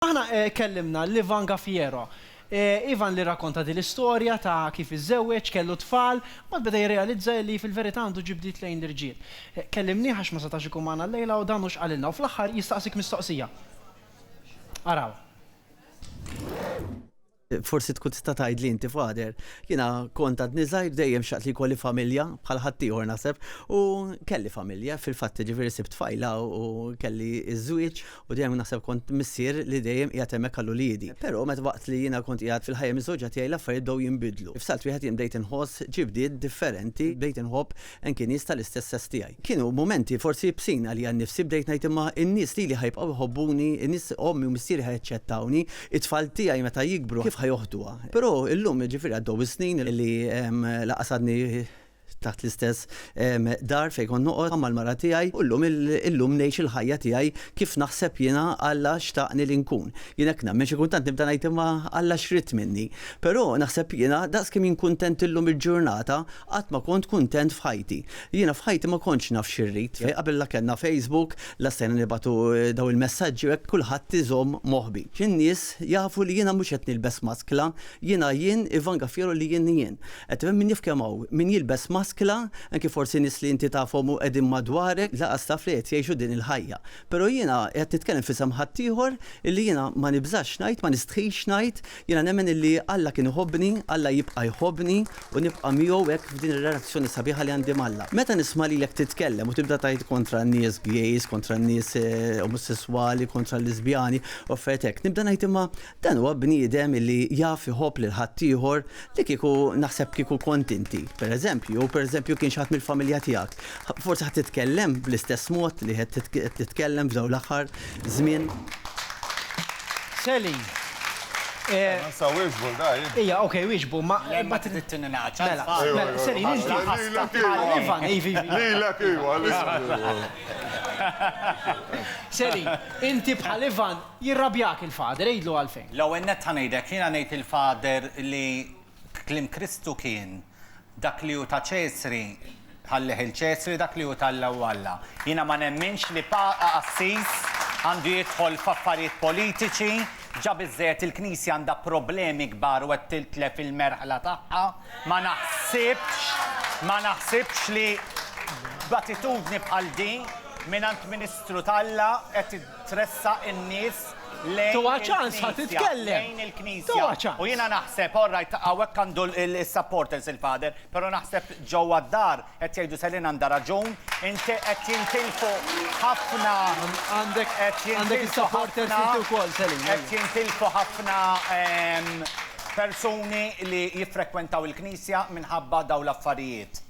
Aħna kellimna l-Ivan Gaffiero. Ivan li rrakkonta din l-istorja ta' kif iżżewweġ, kellu t-tfal, mbagħad beda jirrealizza illi fil-verità għandu ġibdiet lejn l-irġiel. Kellimnieh għax ma setax ikun magħna llejla u dan hu x'qalilna u fl-aħħar jistaqsik mistoqsija. Araw. Forsi tkun tista' tgħidli inti Father, jiena kont għadni żgħir dejjem xtaqt li jkolli familja bħal ħaddieħor naħseb u kelli familja fil-fatt jiġifieri sibt tfajla u kelli ż-żwieġ u dejjem naħseb kont missier li dejjem qiegħed hemmhekk għal uliedi. Però meta waqt li jiena kont qiegħed fil-ħajja miżżewġa tiegħi l-affarijiet bdew jinbidlu. F'salt wieħed jien bdejt inħoss xi bdil differenti, bdejt inħobb Anki nies tal-istess sess tiegħi. Kienu mumenti forsi ibsin għalija nnifsi, bdejt ngħid imma n-nies lili ħa jibqgħu jħobbuni, in-nies ommi u missieri ħa jaċċettawni, it-tfal tiegħi meta jikbru kif ħa joħduha. Però illum, jiġifieri għaddew is-snin li lanqas għadni taħt l-istess dar fejn kont noqgħod, ma' l-mara tiegħi u llum, illum ngħix il-ħajja tiegħi kif naħseb jiena Alla xtaqni li nkun. Jien hekk nemmen, xi kultant nibda ngħid imma Alla x'ried minni? Però naħseb jiena daqs kemm jien kuntent illum il-ġurnata qatt ma kont kuntent f'ħajti. Jiena f'ħajti ma kontx naf xi rrid. Qabel la kellna Facebook, la stajna nibgħatu dawn il-messaġġi u hekk kulħadd iżomm moħbi. Xi nies jafu li jiena mhux qed nilbes maskla, Jiena jien, Ivan Gaffiero li jien jien. Qed min jaf kemm hawn, min jilbes maskla, anki forsi nies li inti tafhom u qegħdin madwarek, lanqas taf li qed jgħixu din il-ħajja. Però jiena qed nitkellem f'isem ħaddieħor illi jiena ma nibżax ngħid, ma nistħix ngħid, jiena nemmen illi Alla kien iħobbni, Alla jibqa' jħobbni u nibqa' miegħu hekk f'din ir-relazzjoni sabiħa li għandi m'Alla. Meta nisma' lilek titkellem u tibda tgħid kontra n-nies gays, kontra n-nies omosesswali, kontra l-liżbjani u affarijiet hekk, nibda ngħid imma Dan huwa bniedem illi jaf iħobb lil ħaddieħor li kieku naħseb kieku kont inti, pereżempju, jew pereżempju kien xi ħadd mill-familja tiegħek, forsi ħa titkellem bl-istess mod li qed titkellem f'dawn l-aħħar żmien. Sally, eh. Ma nsawwirx vulgar, eh. Ija, ok, wieġbu, ma. Ma trid tinnaċċa. Mela, mela, Sally, nixti. Lilek iva. Ivan, ivi. Lilek iva, Sally, inti bħal Ivan Jirrabjak il-Father, għidlu għalfejn. L-ewwel nett ħa ngħidlek, jiena ngħid lill-Father li kliem Kristu kien, Dak li hu ta' Ċesri ħallih 'il Ċesri, dak li hu t'Alla hu Alla. Jiena ma nemminx li Papa Qassis għandu jidħol f'affarijiet politiċi, ġa biżżejjed il-Knisja għandha problemi kbar u qed tiltlef il-merħla tagħha, ma naħsibx, ma naħsibx li b'attitudni bħal din mingħand Ministru t'Alla qed tressaq in-nies lejn Togħha ċans ħa il-Knisja, titkellem! lejn il-Knisja. Togħha ċans! U jiena naħseb, all right, hawnhekk għandu l-supporters il-Father, però naħseb ġewwa d-dar qed jgħidu Selin għandha raġun, inti qed jintilfu ħafna Għandek qed għandek jintilfu is-supporters ħafna inti wkoll, Selin. qed ejja. jintilfu ħafna ehm, persuni li jiffrekwentaw il-Knisja minħabba dawn l-affarijiet.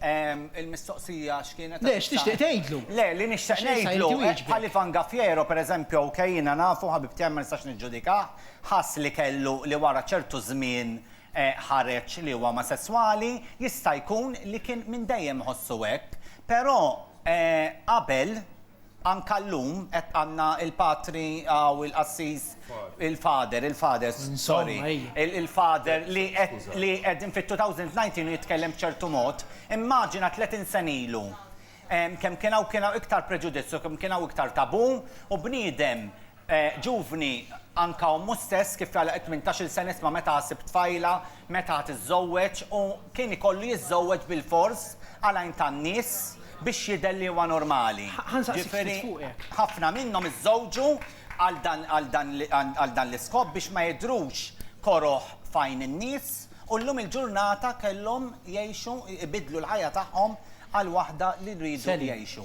Il-mistoqsija x'kienet? Le, x'tixtieq tgħidlu? Le, li nixtieq ngħidlu, bħal Ivan Gaffiero, per eżempju, ok, jiena nafu, ħabib tiegħi ma nistax niġġudikah, ħass li kellu, li wara ċertu żmien ħareġ li huwa omosesswali, jista' jkun li kien minn dejjem iħossu hekk, però qabel, Anka llum qed għandna il-Patri hawn il-Qassis il-Father, il-Father, sorry, il-Father li qed li qegħdin fit-2019 u jitkellem b'ċertu mod. Immaġina tletin sena ilu kemm kien hawn kien hawn iktar preġudizzju, kemm kien hawn iktar tabù u bniedem Ġuvni, anka ommu stess, kif tgħallaq it-tmintax-il sena isma' meta ħa ssib tfajla, meta ħa tiżżowweġ u kien ikollu jiżżowweġ bilfors għal għajn tan-nies biex jidher li huwa normali. Ġifieri, ħafna minnhom iżżowġu għal dan l-iskop biex ma jidhrux koroh f'għajn in-nies u llum il-ġurnata kellhom jgħixu, ibiddlu l-ħajja tagħhom għal waħda li jridu jgħixu.